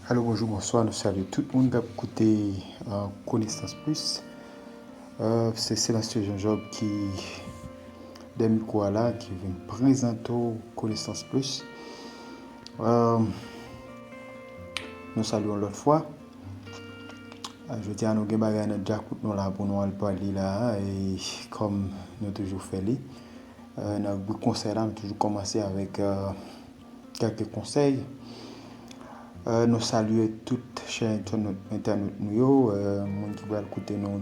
Alo bonjou bonswa nou salye tout moun kap koute konesans plis se Selansye Jean Job ki dèyè mikwo a la ki vin prezante w konesans plis nou salye yon lòt fwa jodi a nou gen bagay nan djakout nou la pou nou al pale la kòm nou toujou fè li nan ribrik konsèy la m toujou kòmanse avèk kèlke konsèy nou salye tout chè entènot nou yo moun ki pral koute nou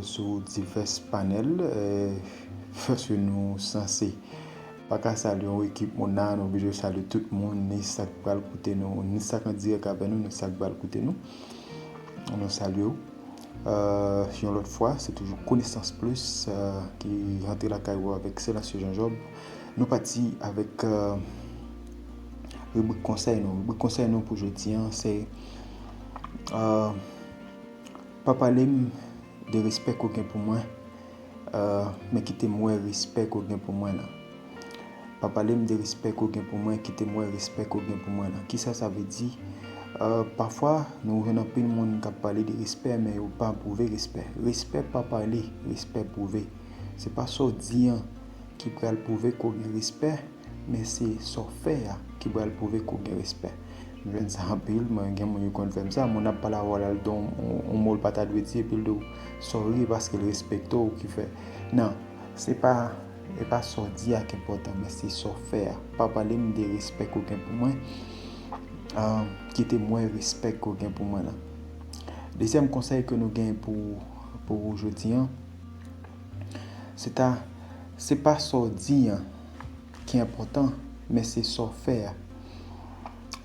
sou divès panèl fòske nou sanse pa ka salye yon ekip moun nan nou oblije salye tout moun ni sa k pral koute nou ni sa k an dirèk avè nou ni sa k pral koute nou nou salye ou. Yon lòt fwa, se toujou konesans plis ki rantre lakay ou avèk Selassie Jean Job. Nou pati avèk ribrik konsèy nou. Ribrik konsèy nou pou jodi an se Pa pale m de respè ke w gen pou mwen, men kite m wè respè ke w gen pou mwen nan. Pa pale m de respè ke w gen pou mwen, kite m wè respè ke w gen pou mwen lan. Kisa sa vle di? Pafwa, nou jwenn anpil moun k ap pale de respè men yo pa pwouve respè. Respè pa pale, respè pwouve. Se pa sa w di an ki pral pwouve ke w gen respè, men se sa w fè a ki pral pwouve ke w gen respè. M jwenn sa anpil, mwen gen moun yo konn fè m sa. Moun ap pale avè w la, l di w yon mo l pa ta dwe di epi l di w sòri paske l respekte w ki fè. Non, se pa. E pa sa w di a k enpòtan, men se sa w fè a. Pa pale m de respè ke w gen pou mwen, kite m wè respè ke w gen pou mwen lan. Dezyèm konsèy ke nou gen pou ou jodi an, se ta, se pa sa w di an ki enpòtan, men se sa w fè a.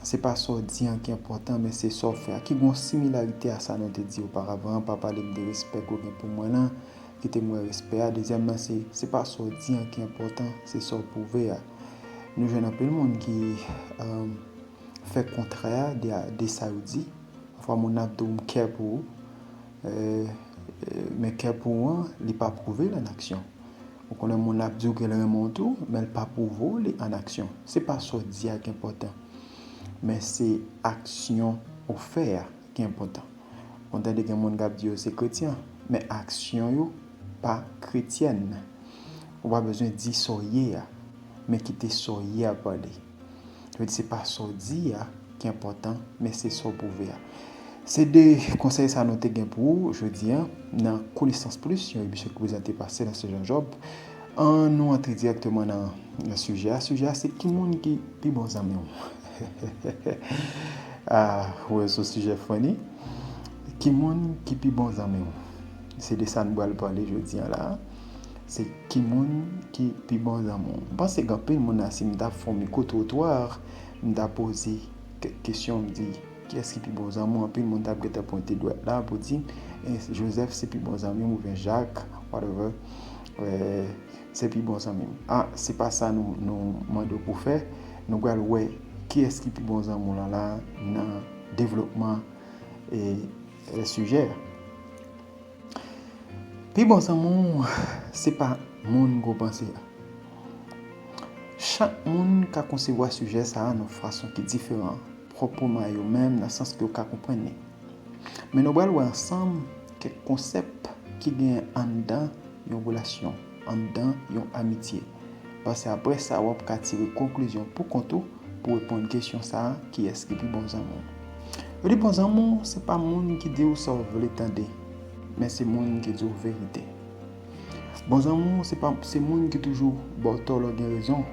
Se pa sa w di an ki enpòtan, men se sa w fè a. Ki gen yon similarite a sa nou te di oparavan an, pa pale m de respè ke w gen pou mwen lan, Kite m wè respè a. Dezyèm nan se, se pa sa w di an ki enpòtan, se sa w pwouve a. Nou jwenn anpil moun ki fè kontrè a de sa yo di. Pafwa moun nan ap di w m kè pou ou, men kè pou ou an, li pa pwouve l an aksyon. Ou konnen moun nan ap di w ke l renmen w tou, men l pa pwouve w li an aksyon. Se pa sa w di a ki enpòtan, men se aksyon ou fè a. ki enpòtan. Mwen tande gen moun k ap di yo se kretyen, men aksyon yo pa kretyèn. Ou pa bezwen di sa w ye a, men kite sa w ye a pale. Sa vle di se pa sa w di a ki enpòtan, men se sa w pwouve a. Se de konsèy sa nou te gen pou ou jodi a nan Konesans Plis, yon emisyon ki prezante pa Sébastien Jean Job. Annou antre dirèkteman nan sijè a. Sijè a se ki moun ki pi bon zanmi w? Ahh ou wè son sujet funny Ki moun ki pi bon zanmi w? Se de sa nou pral pale jodi an la Se ki moun ki pi bon zanmi w? M panse gen anpil moun la si m ta fè yon micro trottoir m ta poze kèk kesyon m di kiyès ki pi bon zanmi w anpil moun t ap gentan pwente dwèt la pou di Joseph se pi bon zanmi m oubyen Jacques whatever Se pi bon zanmi m. Ah se pa sa nou nou mande w pou fè, nou pral wè kiyès ki pi bon zanmi w lan la nan devlopman e sijè a. Pi bon zanmi w se pa moun gwo panse a. Chak moun ka konsevwa sijè sa a nan fason ki diferan pwòpwman a yo menm nan sans ke yo ka konprann li. Men nou pral wè ansanm kèk konsèp ki genyen anndan yon relasyon, anndan yon amitye. Paske aprè sa wap ka tire konklizyon pou kont ou pou reponn kesyon sa a, kiyès ki pi bon zanmi w? Yo di bon zanmi w se pa moun ki di w sa w vle tande, men se moun ki di w verite. Bon zanmi w se pa se moun ki toujou ba w tò lè w gen rezon,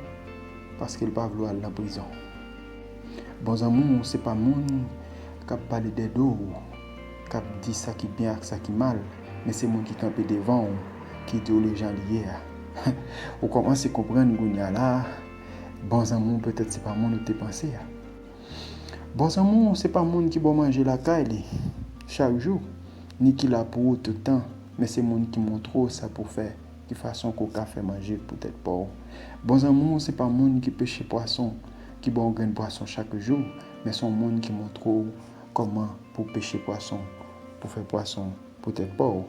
paske l pa vle w al nan prizon. Bon zanmi w se pa moun kap pale dèdo w. k ap di sa ki byen ak sa ki mal, men se moun ki kanpe devan ou ki di w li jan li ye a. Ou kòmanse konprann kounye a la a, bon zanmi w petèt se pa moun ou te panse a. Bon zanmi w se pa moun ki ba w manje lakay li chak jou, ni ki la pou ou tout tan, men se moun ki montre w sa pou w fè, ki fason ke w ka fè manje pou tèt pa w. Bon zanmi w se pa moun ki peche pwason, ki ba w grenn pwason chak jou, men se yon moun ki montre w Kòman pou w peche pwason, pou w fè pwason pou tèt pa w?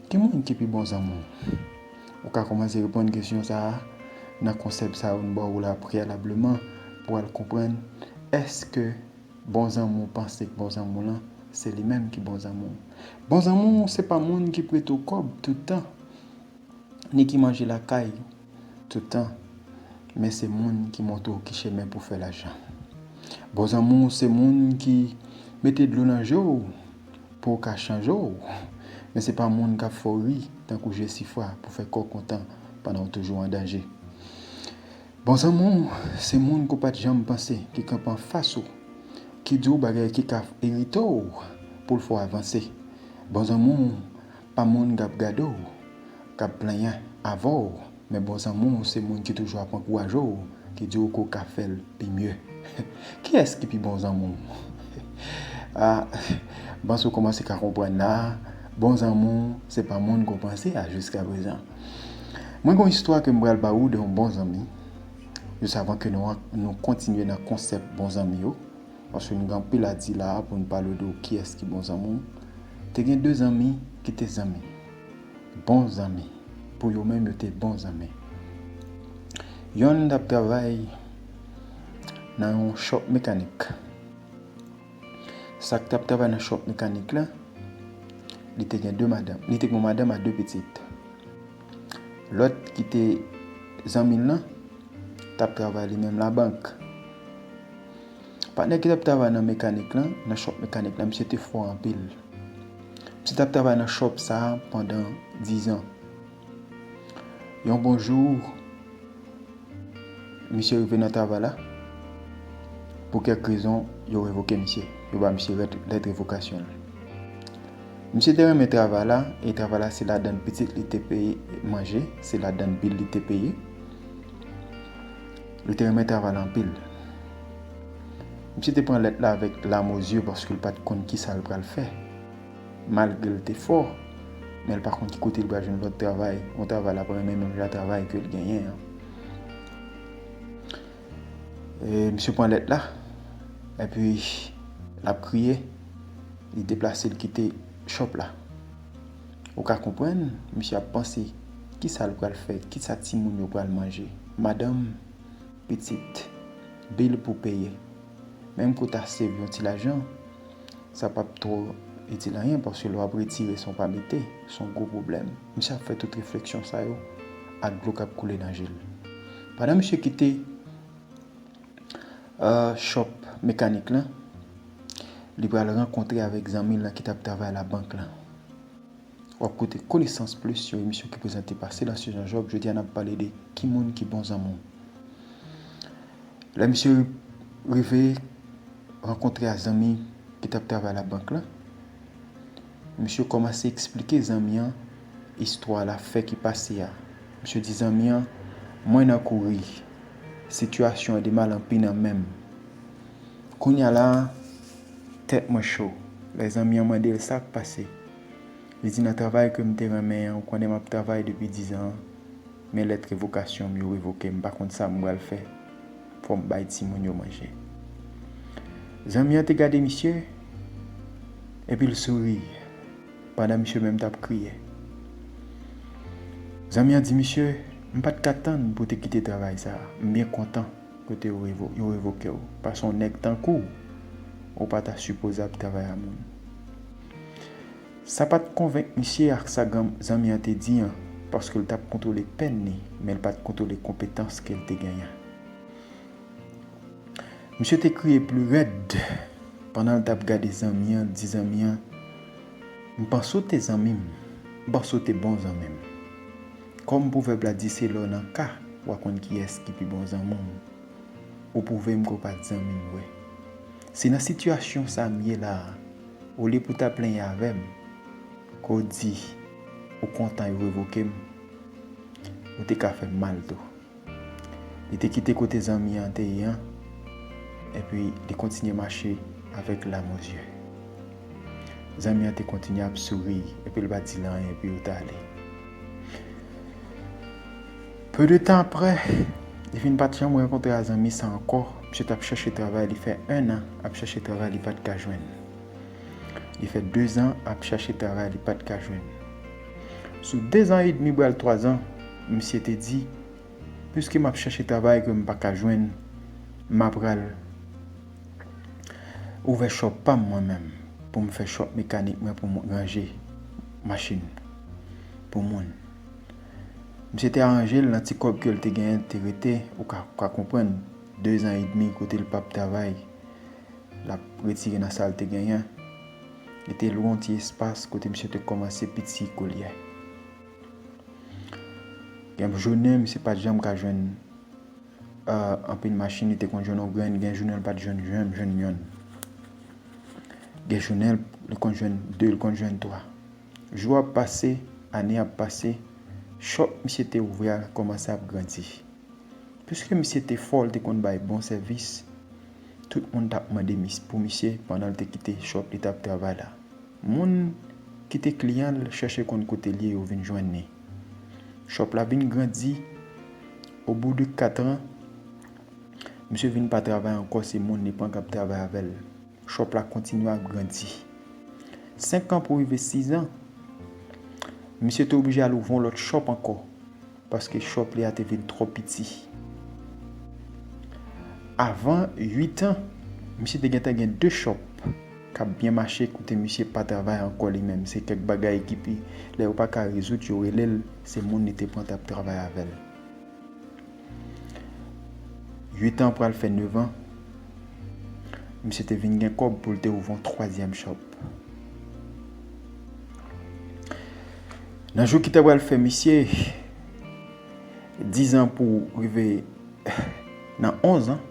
Ki moun ki pi bon zanmi w? Ou ka kòmanse reponn kesyon sa a nan konsèp sa yo m ba w la preyalableman pou w al konprann èske bon zanmi w panse k bon zanmi w lan se li menm ki bon zanmi w. Bon zanmi w se pa moun ki prete w kòb tout tan ni ki manje lakay ou. Tout tan. Men se moun ki montre w ki chemen pou fè lajan. Bon zanmi w se moun ki mete dlo nan je w pou w ka chanje w. Men se pa moun k ap fè w ri tankou Jesifra pou fè kè w kontan pandan w toujou an danje. Bon zanmi w se moun ke w pa t janm panse ki kanpe anfas ou, ki di w bagay ki ka irite w pou l fè w avanse. Bon zanmi w. Pa moun kap gade w, kap plenyen avè w, men bon zanmi w se moun ki toujou ap ankouraje w, ki di w ke w ka fè l pi mye. Kiyès ki pi bon zanmi w? A, m panse w kòmanse ka konprann la a, bon zanmi w se pa moun ke w panse a jiskaprezan. Mwen gen yon istwa ke m pral ba ou de yon bon zanmi, jis avan ke nou kontinye nan konsèp bon zanmi yo. Paske nou gen anpil a di la a pou nou pale w de w kiyès ki bon zanmi w. Te gen de zanmi ki te zanmi. Bon zanmi. Pou yo menm yo te bon zanmi. Yonn t ap travay nan yon chòp mekanik. Sa k t ap travay nan chòp mekanik la, li te gen de madanm. Li te gen yon madanm a de pitit. Lòt ki te zanmi l lan t ap travay li menm labank. Patnè ki t ap travay nan mekanik lan, nan chòp mekanik lan, misye te fò anpil. Misye t ap travay nan chòp sa a pandan dizan. Yon bon jou. Misye rive nan travay la, pou kèk rezon, yo revoke misye. Yo ba misye lèt revokasyon l. Misye te renmen travay la, e travay la se ladann pitit li te peye manje, se ladann bil li te peye. Li te renmen travay la anpil. Misye te pran lèt la avèk lam o zye paske l pa t konn ki sa l pral fè. Malgre l te fò, men l pa konn ki kote l pral jwenn lòt travay, yon travay l ap renmen menm jan travay ke l genyen an. Misye pran lèt la, epi l ap kriye, li deplase l kite chòp la. Ou ka konprann, misye ap panse, ki sa l pral fè, ki sa timoun yo pral manje. Madanm, pitit, bil pou peye. Menm kou ta save yon ti lajan, Sa pap two itil anyen paske lè wap retire san w pa mete, se yon gwo pwoblèm. Misye ap fè tout refleksyon sa yo ak dlo kap koule nan je l. Pandan misye kite shop mekanik lan, li pral rankontre avèk zanmi l lan ki tap travay labank lan. W ap koute Konesans Plis, yon emisyon ki prezante pa Selassie Jean Job. Jodi a n ap pale de ki moun ki bon zanmi w. Lè misye rive rankontre a zanmi ki t ap travay labank la, misye kòmanse eksplike zanmi an istwa lafè ki pase a. Misye di zanmi an, Mwen nan kouri. Sitiyasyon an demal anpi nan men m. Kounye a la a, tèt mwen cho. Lè zanmi an mande l sa k pase. Li di, Nan travay ke m te renmen an, ou konnen m ap travay depi dizan an, men lèt revokasyon m yo revoke m, m pa konn sa m pral fè. Fò m bay timoun yo manje. Zanmi an te gade misye, epi l souri, pandan misye menm t ap kriye. Zanmi an di misye, M pa t ka tann pou w te kite travay sa a. M byen kontan kote yo revoke w, paske yon nèg tankou w, ou pa ta sipoze ap travay a moun. Sa pa t konvenk misye ak sa zanmi an te di an, paske l t ap kontwole pèn li, men l pa t kontwole konpetans ke l te genyen. Misye te kriye pli rèd pandan l t ap gade zanmi an, di zanmi an, M panse ou te zanmi m, m panse ou te bon zanmi m. Kòm pwovèb la di se lè w nan ka w a konn kiyès ki pi bon zanmi w, ou pwouve m ke w pa t zanmi m vre. Se nan sitiyasyon sa m ye la a, olye pou w ta plenyen avè m, ke w di ou kontan yo revoke m, ou te ka fè m mal tou. Li te kite kote zanmi an te ye an, epi li kontinye mache avèk lam o zye. Zanmi an te kontinye ap souri epi l pa t di l anyen epi yo t ale. Peu de tan aprè, li fin pat janm rankontre a zanmi sa ankò, misye tap chèche travay li fè 1 an ap chèche travay li pat ka jwenn. Li fè 2 zan ap chèche travay li pat ka jwenn. Sou 2 zan edmi bral 3 zan, misye te di, piske map chèche travay ke m pa ka jwenn, ma pral ouvè shop pam mwen menm, pou m fè shop mekanik mwen pou m ranje machin pou moun. Misye te aranje l nan ti kòb ke l te genyen l te rete ou ka konprann dezan edmi kote l pap travay l ap retire nan sa l te genyen li te lwe yon ti espas kote misye te kòmanse piti koulye gen jounen misye pat janm ka jwenn anpil machin li te konn jwenn yon grenn gen jounen l pat janm jwenn yonn gen jounen l konn jwenn 2 l konn jwenn 3. Jou ap pase, ane ap pase, chòp misye te ouvri a kòmanse ap grandi. Piske misye te fò, l te konn bay bon sèvis, tout moun t ap mande pou misye pandan l te kite chòp li t ap travay la. Moun ki te kliyan l chèche konn kote l ye yo vin jwenn li. Chòp la vin grandi, obou de katran, misye vin pa travay ankò se moun li pran k ap travay avè l. Shop la kontinye ap grandi. 5 an pou rive 6 an, misye te oblije al ouvri yon lòt shop ankò paske shop li a te vin twò piti. Avan 8 an, misye te gentan gen 2 shop k ap byen mache kote misye pa travay ankò li menm. Se kèk bagay ki pi, lè yo pa ka rezoud yo rele l, se moun li te pran t ap travay avè l. 8 an pral fè 9 an, misye te vin gen kòb pou l te ouvon twazyèm chòp. Nan jou ki ta pral fè misye 10 an pou rive nan 11 an,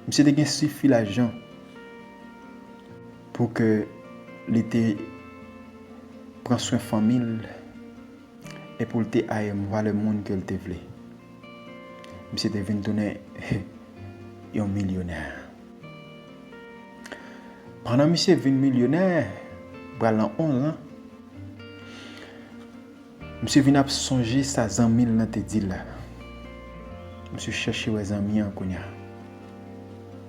misye te gen sifi lajan pou ke li te pran swen fanmi l. e pou l te aim valè moun ke l te vle. Misye te vin tounen yon milyonè. Pandan misye vin milyonè, pral nan 11 lan, misye vin ap sonje sa zanmi l lan te di l la. Misye chèche wè zanmi an kounya.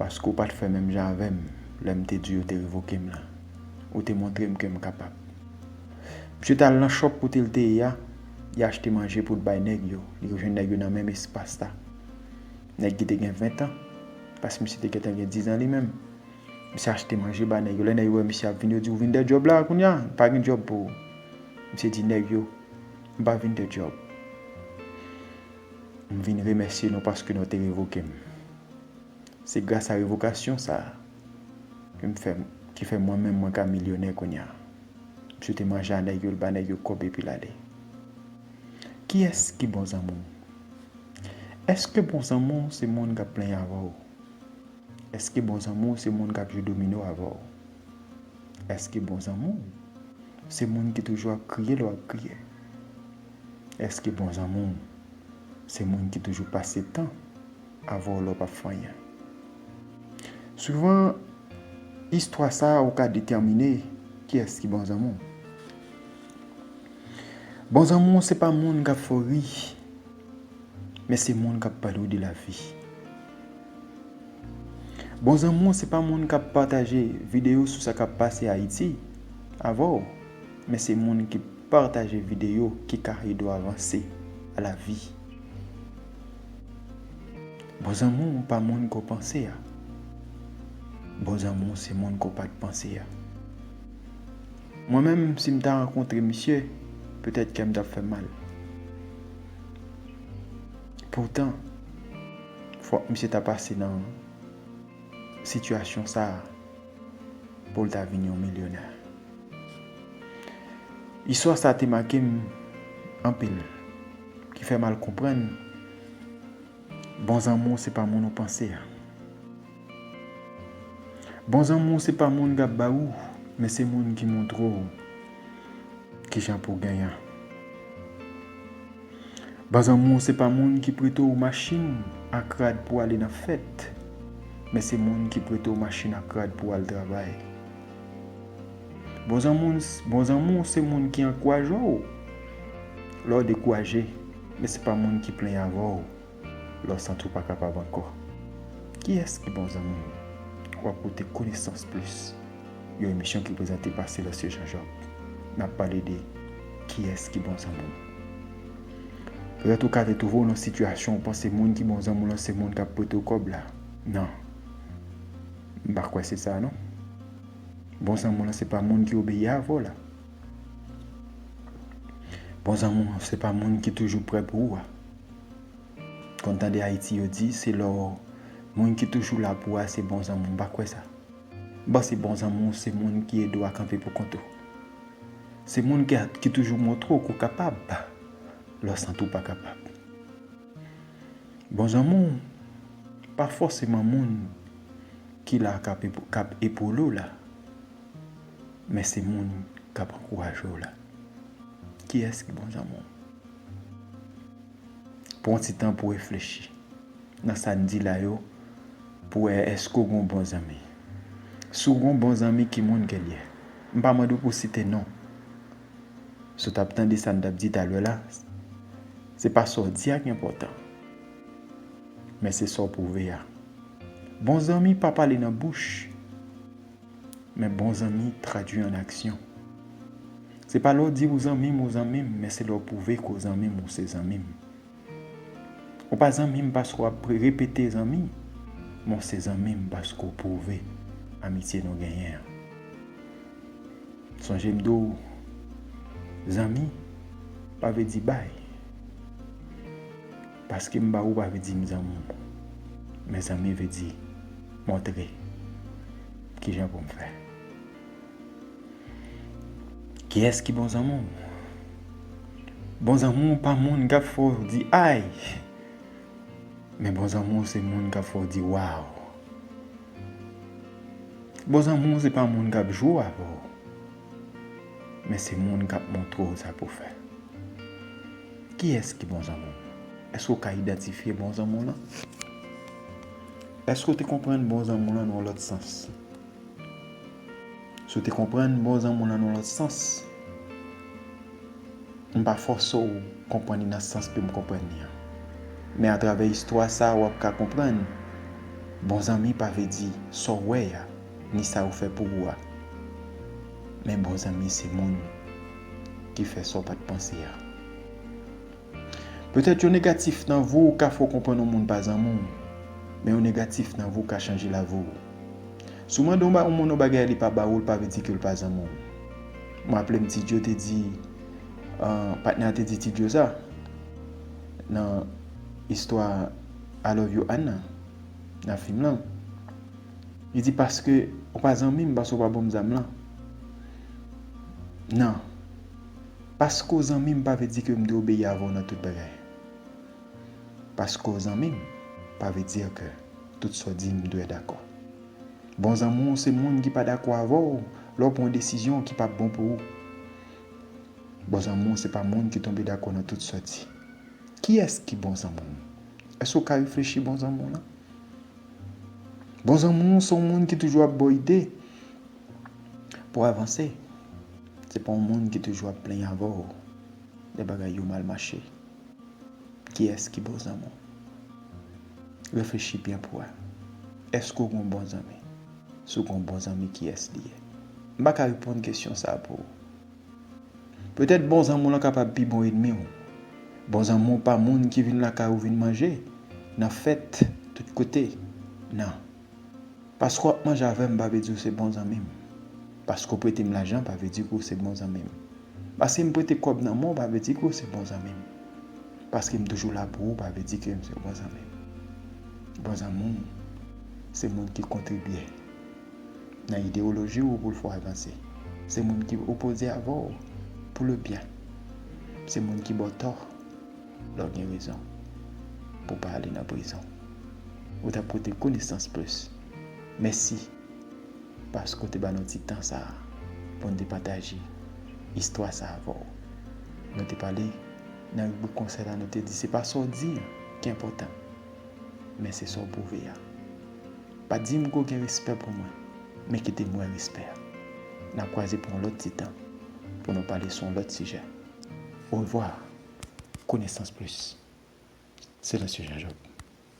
Paske ou pa t fè menm jan avè m lè m te di w yo te revoke m lan. Ou te montre m ke m kapab. Misye t al nan shop kote l te ye a, li achte manje pou l bay nèg yo. Li rejwenn nèg yo nan menm espas la. Nèg ki te gen ventan, paske misye te gentan gen dizan li menm. Misye achte manje ba nèg yo. Lè nèg yo wè misye ap vini, yo di, Ou vin de djòb la a kounye a? Nou pa gen djòb pou ou. Misye di nèg yo, M pa vin de djòb. M vin remèsye nou paske nou te revoke m. Se gras a revokasyon sa a ke m fè ki fè mwen menm mwen ka milyonè kounya. Msye te manje a nèg yo l ba nèg yo kòb epi l ale. Kiyès ki bon zanmi w? Èske bon zanmi w se moun k ap plenyen avè w? Èske bon zanmi w se moun k ap jwe domino avè w? Èske bon zanmi w se moun ki toujou ap kriye lè w ap kriye? Eske bon zanmi'w se moun ki toujou pase tan avè w lè w pap fè anyen? Souvan, istwa sa ou ka detèmine kiyès ki bon zanmi'w. Bon zanmi'w se pa moun kap fè w ri, men se moun kap pale w de lavi. Bon zanmi'w se pa moun kap pataje videyo sou sa kap pase Ayiti avè w. Men se moun ki partage video ki ka edew avanse a la vi. Bon zanmi w pa moun ke w panse a. Bon zanmi w se moun ke w pat panse a. Mwen menm si m ta rankontre misye petèt kè m tap fè m mal. Poutan fok misye ta pase nan sitiyasyon sa. Pou l ta vin yon milyonè. Istwa sa te make m anpil. Ki fè m al konprann bon zanmou se pa moun ou panse a. Bon zanmou se pa moun k ap ba ou men se moun ki montre w kijan pou w genyen. Baz anmou se pa moun ki prete w machin ak rad pou ale nan fèt, men se moun ki prete w machin ak rad pou al travay. Bon zanmou se moun ki ankouraje w lè w dekouraje, men se pa moun ki plenyen avè w. Lè w santi w pa kapab ankò, kiyès ki bon zanmi w? Ou ap koute Konesans Plis, yon emisyon ki prezante pa Célestin Jean Jacques. N ap pale de Kiyès ki bon zanmi w? Petèt ou ka te twouve w nan sitiyasyon ou panse moun ki bon zanmi w lan se moun k ap prete w kòb la. Non. M pa kwè se sa non. Bon zanmi w lan se pa moun ki obeyi avè w la. Bon zanmi w se pa moun ki toujou prè pou ou a. Konn tande ayiti yo di se lò moun ki toujou la pou a se bon zanmiw m pa kwè sa m panse bon zanmiw se moun ki ede w a kanpe pou kont ou se moun ki toujou montre w ke w kapab lè w santi w pa kapab bon zanmiw pa fòseman moun ki la kap epole w la men se moun kap ankouraje w la kiyès ki bon zanmiw. Pran yon ti tan pou reflechi nan sa n di la yo pou wè èske w gen yon bon zanmi. Si w gen yon bon zanmi, ki moun ke l ye? M pa mande w pou w site non. Si w t ap tande sa n t ap di talè la, se pa sa w di a ki enpòtan, men se sa w pwouve a. Bon zanmi pa pale nan bouch. Men bon zanmi tradwi an aksyon. Se pa lè w di ou zanmi m ou zanmi m men se lè w pwouve ke w zanmi m ou se zanmi m. Ou pa zanmi m paske w ap repete zanmi men w se zanmi m paske w pwouve amitye nou genyen an. Sonje m di w zanmi pa vle di bay. Paske m ba ou pa vle di m zanmi w. Men zanmi vle di montre. Kijan pou m fè? Kiyès ki bon zanmi w? Bon zanmi w pa moun k ap fè w di ay! Men bon zanmi w se moun k ap fè w di waw! Bon zanmi w se pa moun k ap jwe avè w. Men se moun k ap montre w sa pou w fè. Kiyès ki bon zanmi w? Èske w ka idantifye bon zanmi w lan? Èske w te konprann bon zanmi w lan nan yon lòt sans? Si w te konprann bon zanmi w lan nan yon lòt sans, m pa fòse w konprann li nan sans ke m konprann li an. Men atravè istwa sa a w ap ka konprann, bon zanmi pa vle di sa w wè a, ni sa yo fè pou ou a. Men bon zanmi se moun. ki fè sa w pa t panse a. Petèt yon negatif nan vi w ka fè w konprann yon moun pa zanmi w, men yon negatif nan vi w ka chanje lavi w. Si w mande yon moun yon bagay e li pa ba ou l pa vle di ke l pa zanmi w. M raple m Ti Djo te di, patnè a te di Ti Djo sa nan istwa I love you Anne nan fim lan. Li di paske ou pa zanmim paske ou pa banm zam lan nan paske ou zanmim pa vle di ke mdwe obeyi avèw nan tout bagay paske ou zanmim pa vle di ke tout sa ou dim mdwe dakò bon zanmi ou se moun ki pa dakò avèw lèw pran yon desizyon ki pap bon pou ou bon zanmi ou se pa moun ki tonbe dakò nan tout sa ou di kiyès ki bon zanmi ou èske ou ka reflechi bon zanmi ou lan. Bon zanmi w se yon moun ki toujou ap ba w ide pou w avanse. Se pa yon moun ki toujou ap plenyen avè w lè bagay yo mal mache. Kiyès ki bon zanmi w? Reflechi byen pou w wè. Èske w gen yon bon zanmi? Si w gen yon bon zanmi, kiyès li ye? M pa ka reponn kesyon sa a pou ou. Petèt bon zanmi w lan kapab pi bon ènmi w. Bon zanmi w pa moun ki vin lakay ou vin manje, nan fèt, tout kote. Nan. Paske w ap manje avè m pa vle di ou se bon zanmi m. Paske w prete m lajan pa vle di ke w se bon zanmi m. Paske m prete kòb nan men w pa vle di ke w se bon zanmi m. Paske m toujou la pou ou pa vle di ke m se bon zanmi m. Bon zanmi w se moun ki kontribye. nan idewoloji ou pou l fè w avanse. Se moun ki opoze avè w pou le byen. Se moun ki ba w tò lè w gen rezon pou w pa ale nan prizon. Ou t ap koute konesans plis. Mèsi paske w te ba nou ti tan sa a pou n te pataje istwa sa a avè w. Nou te pale nan ribrik konsèy la nou te di se pa sa w di an ki enpòtan men se sa w pwouve a. Pa di m ke w gen respè pou mwen, men kite m wè respè a. N a kwaze pou yon lòt ti tan, pou nou pale sou yon lòt sijè. Orevwa! Konesans plis! Silansyeu Jean Job.